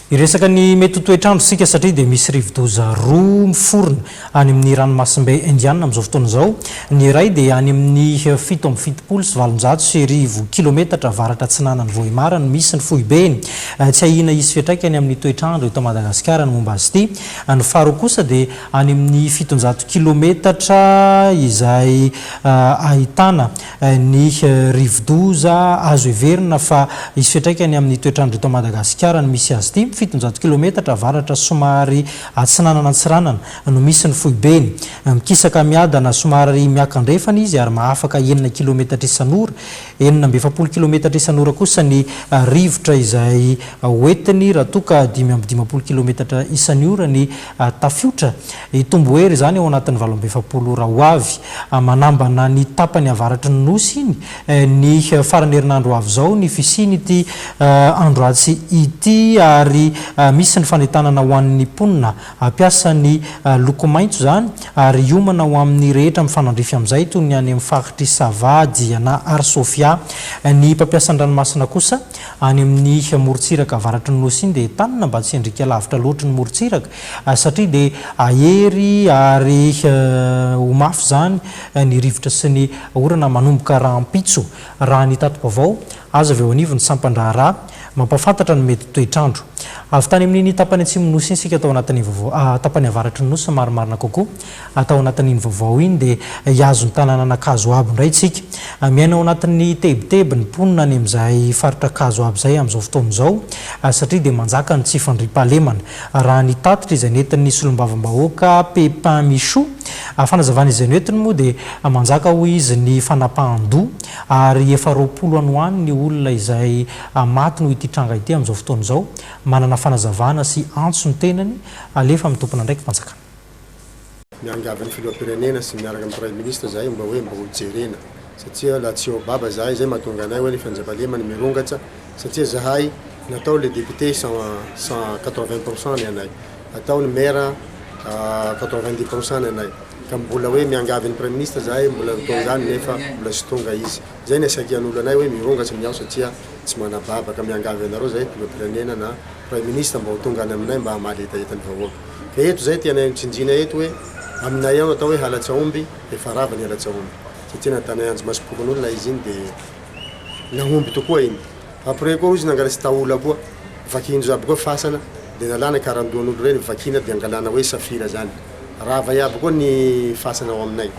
Hiresaka ny mety ho toetr'andro isika satria dia misy rivodoza roa miforona any amin'ny ranomasimbe Indiana amin'izao fotoana izao. Ny iray dia any amin'ny fito amby fitopolo sy valonjato sy arivo kilometatra avaratra-atsinanan'i Vohemar no misy ny foibeny. Tsy ahiana hisy fiantraikany amin'ny toetr'andro eto Madagasikara ny momba azy ity. Ny faharoa kosa dia any amin'ny fitonjato kilometatra izay ahitana Ny rivodoza azo heverina fa hisy fiantraikany amin'ny toetr'andro eto Madagasikara ny misy azy ity. Fitonjato kilometatra avaratra somary atsinanan'Antsiranana no misy ny foibeny. Mikisaka miadana somary miakandrefana izy ary mahafaka enina kilometatra isan'ora. Enina amby efapolo kilometatra isan'ora kosa ny rivotra izay hoentiny raha toa ka dimy amby dimampolo kilometatra isan'ny ora ny tafiotra. Hitombo hery izany ao anatin'ny valo amby efapolo ora ho avy. Manambana ny tapany avaratry ny Nosy iny ny faran'ny herinandro ho avy izao ny fisian'ity androatsy ity ary misy ny fanentanana ho an'ny mponina hampiasa ny loko maitso izany ary hiomana ho amin'ny rehetra mifanandrify amin'izay toy ny any amin'ny faritr'i Sava, Diana ary Sofia. Ny mpampiasa an-dranomasina kosa any amin'ny morontsiraka avaratry ny Nosy iny dia entanina mba tsy hiandriaka lavitra loatra ny morontsiraka satria dia hahery ary ho mafy izany ny rivotra sy ny orana manomboka rahampitso, raha ny tati-baovao azo avy eo anivon'ny sampan-draharaha mampahafantatra ny mety toetr'andro. Avy tany amin'iny tapany atsimon'ny Nosy iny isika tao anatin'ny vaovao tapany avaratry ny Nosy marimarina kokoa. Atao anatin'iny vaovao iny dia hihazo ny tanànan'Ankazo Abo indray isika. Miaina ao anatin'ny tebiteby ny mponina any amin'izay faritra Ankazo Abo izay amin'izao fotoana izao satria dia manjaka ny tsy fandriampahalemana. Raha ny tatitra izay nentin'ny solombavambahoaka Pepin Michou fanazavana izay noentiny moa dia manjaka hoy izy ny fanapahan-doha ary efa roapolo any ho any ny olona izay maty noho ity tranga ity amin'izao fotoana izao. Manana fanazavana sy antso ny tenany alefa amin'ny tompon'andraiki-panjakana. Miangavy ny filoham-pirenena sy miaraka amin'ny praiminisitra izahay mba hoe mba ho jerena satria laha tsy ao baba izahay izay mahatonga anay hoe ny fanjavalema ny mirongatsa satria izahay natao le député cent cent quatre vingt pour cent ny anay atao ny maire quatre vingt dix pour cent ny anay ka mbola hoe miangavy ny praiminisitra izahay mbola atao izany nefa mbola tsy tonga izy Izay ny haisakian'olo anay hoe mironga tsy miao satria tsy manababaka, miangavy anareo zahay filoham-pirenena na praiminisitra mba ho tonga any aminay mba hamaly hetaheta ny vahoaka. Ka eto izay tianay hotsinjina eto hoe aminay ao natao hoe halatsahomby dia efa rava ny halatsahomby satria natanay anjimasom-pokonolona izy iny dia nahomby tokoa iny fa après koa hoy izy nangalatsy taola koa vakian-dry aby koa fasana dia nalana karandohan'olo ireny vakiana dia angalana hoe safira zany rava iaby koa ny fasana ao aminay.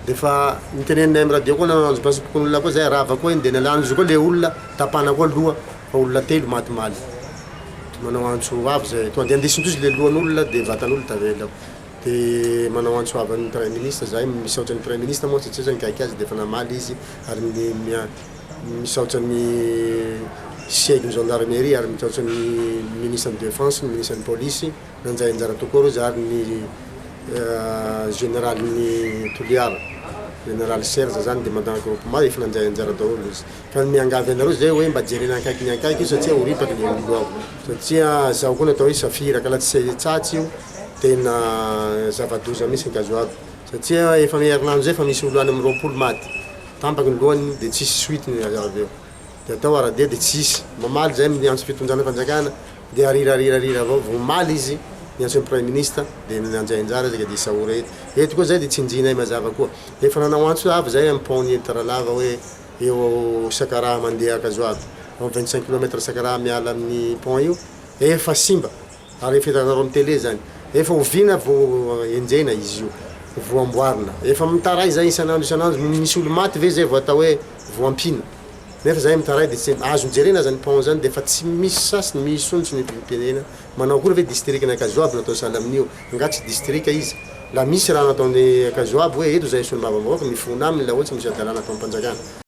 Defa nitenenina am radio koa nanao anjompiasa pokonolona koa zay rava koa iny de nalany izy koa le olona tapana koa loha fa olona telo maty maly de manao antso avy zay tonga de andisintosa le lohan'olona de vatan'olona tavela de manao antso avy an'ny praiminisitra zahay misaotra ny praiminisitra moa satria zah nikaiky azy defa namaly izy ary misaotra ny siegy ny gendarmerie ary misaotra ny minisitra ny defense ny minisitra ny polisy Nandray anjara tao koa ireo zary ny Generalin'ny Toliara, Generaly Serge zany, dia Mandant Groupement, efa nandray anjara daholo izy. Fa ny miangavy anareo izay hoe mba jerena akaiky ny akaiky io satsia ho ripaka ny olo ao. Satsia zao koa ny atao hoe safira, ka la tsy tsatsy io, tena zava-doza mihintsy ny gazoaby. Satsia efa amin'ny herinandro izay efa misy olo any amin'ny roapolo maty, tampaka ny lohany dia tsisy suite ny avy eo. dia atao aradia dia tsy hisy mamaly zay miantso fitonjana fanjakana dia arirarirarira avao vao mamaly izy miantso ny praiminisitra dia mianjay anjara isika dia isaora eto eto koa zay dia tsinjinay mazava koa efa nanao antso avy zay amin'ny pont ny Taranava hoe eo ao Sakaraha mandeha Ankazoavy vingt cinq kilomètre Sakaraha miala amin'ny pont io efa simba Ary efa hitanareo am télé zany. Efa oviana vo enjehina izy io vo amboarina. Efa mitaray zay isan'andro isan'andro no misy olo maty ve zay vo atao hoe vo ampiana. Nefa zay mitaray de tsy azony jerena aza ny pont zany de efa tsy misy sasiny misondrotra ny firenena. Manao akory ve district ny Ankazoabo natao sahala amin'io. Nga tsy district izy. La misy raha nataon'ny Ankazoabo hoe eto zay solombavambahoaka mifona aminy la oe tsy misy hadalana atao am panjakana.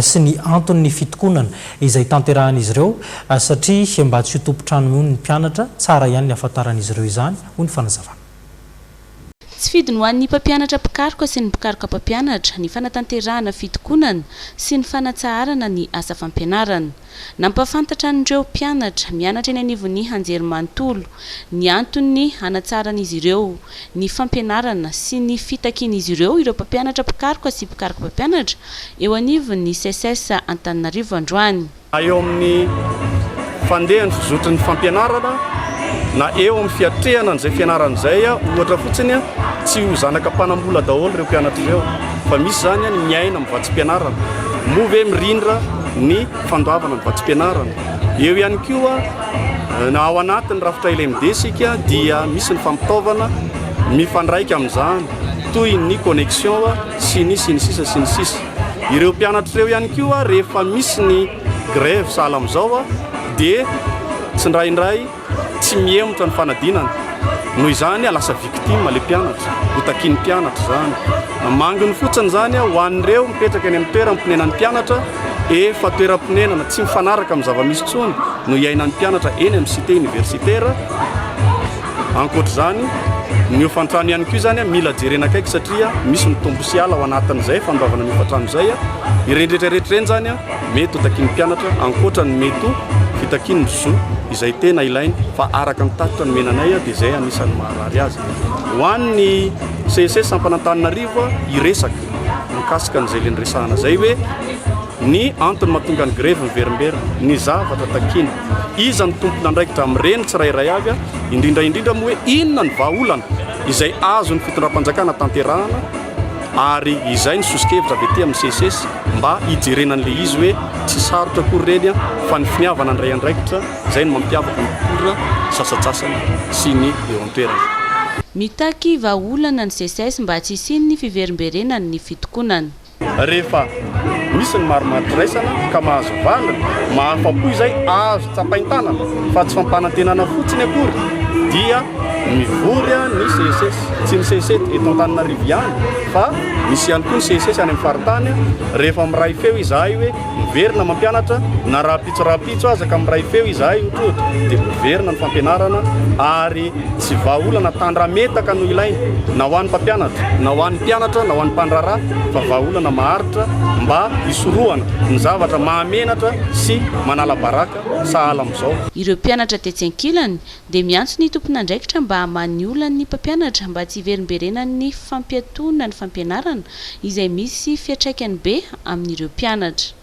sy ny anton'ny fitokonana izay tanterahan'izy ireo satria mba tsy ho tompon-trano mihono ny mpianatra, tsara ihany ny hafantaran'izy ireo izany, hoy ny fanazavana. Tsy fidiny ho an'ny mpampianatra mpikaroka sy ny mpikaroka mpampianatra ny fanatanterahana fitokonana sy ny fanatsaharana ny asa fampianarana. Nampahafantatra an'ireo mpianatra mianatra eny anivon'ny anjerimanontolo ny anton'ny hanatsaran'izy ireo ny fampianarana sy ny fitakian'izy ireo ireo mpampianatra mpikaroka sy mpikaroka mpampianatra eo anivon'ny Seces Antananarivo androany. na eo amin'ny fandehan'ny fizotry ny fampianarana na eo amin'ny fiatrehana an'izay fianarana izay, ohatra fotsiny, tsy ho zanaka mpanam-bola daholo ireo mpianatra ireo fa misy izany ny miaina amin'ny vatsim-pianarana, moa ve mirindra? ny fandoavana ny vatsim-pianarana. Eo ihany koa na ao anatin'ny rafitra LMD isika dia misy ny fampitaovana mifandraika amin'izany toy ny connexion sy ny sy ny sisa sy ny sisa. Ireo mpianatra ireo ihany koa rehefa misy ny grève sahala amin'izao dia tsindraindray Tsy mihemotra ny fanadinana. Noho izany a lasa victime le mpianatra. Ho takian'ny mpianatra izany. Manginy fotsiny izany a ho an'ireo mipetraka eny amin'ny toeram ponenan'ny mpianatra efa toeram-ponenana tsy mifanaraka amin'ny zava-misy intsony no iainan'ny mpianatra eny amin'ny cité universitaire. Ankoatr'izany, ny hofan-trano ihany koa izany a mila jerena akaiky satria misy mitombo sy hiala ao anatin'izay fanovana ny hofan-trano izay a. Ireny rehetra rehetra ireny izany a. Mety ho takian'ny mpianatra, ankoatra ny mety ho fitakiany ny zo izay tena ilainy, fa araka ny tatitra nomena anay dia izay anisan'ny maharary azy. Ho an'ny CEC sampan'Antananarivo, hiresaka mikasika an'izay le niresahana izay hoe ny antony mahatonga ny grevy miverimberina, ny zavatra takiana, iza no tompon'andraikitra amin'ireny tsirairay avy, indrindra indrindra moa hoe inona ny vahaolana izay azon'ny fitondram-panjakana tanterahana Ary izay ny soso-kevitra avy ety amin'ny CCES mba hijerena an'ilay izy hoe tsy sarotra akory ireny fa ny finiavana handray andraikitra izay no mampiavaka ny mpitondra sasantsasany sy ny eo an-toerana. Mitaky vahaolana ny CCES mba tsy hisian'ny fiverimberenan'ny fitokonana. Rehefa Misy ny marimaritra iraisana ka mahazo vaniny, mahafa-po izay azo tsapain-tanana fa tsy fampanantenana fotsiny akory dia mivory ny CSS. Tsy ny CSS eto Antananarivo ihany fa misy ihany koa ny CSS any amin'ny faritany. Rehefa miray feo izahay hoe miverina mampianatra na rahampitso rahampitso aza ka miray feo izahay ohatra dia miverina ny fampianarana ary Tsy vahaolana tandrametaka no ilaina na ho an'ny mpampianatra, na ho an'ny mpianatra, na ho an'ny mpandraharaha fa vahaolana maharitra mba hisorohana ny zavatra mahamenatra sy manala baraka sahala amin'izao. Ireo mpianatra tetsy ankilany dia miantso ny tompon'andraikitra mba hamaha ny olan'ny mpampianatra mba tsy hiverimberenan'ny fampiatoana ny fampianarana izay misy fiatraikany be amin'ireo mpianatra.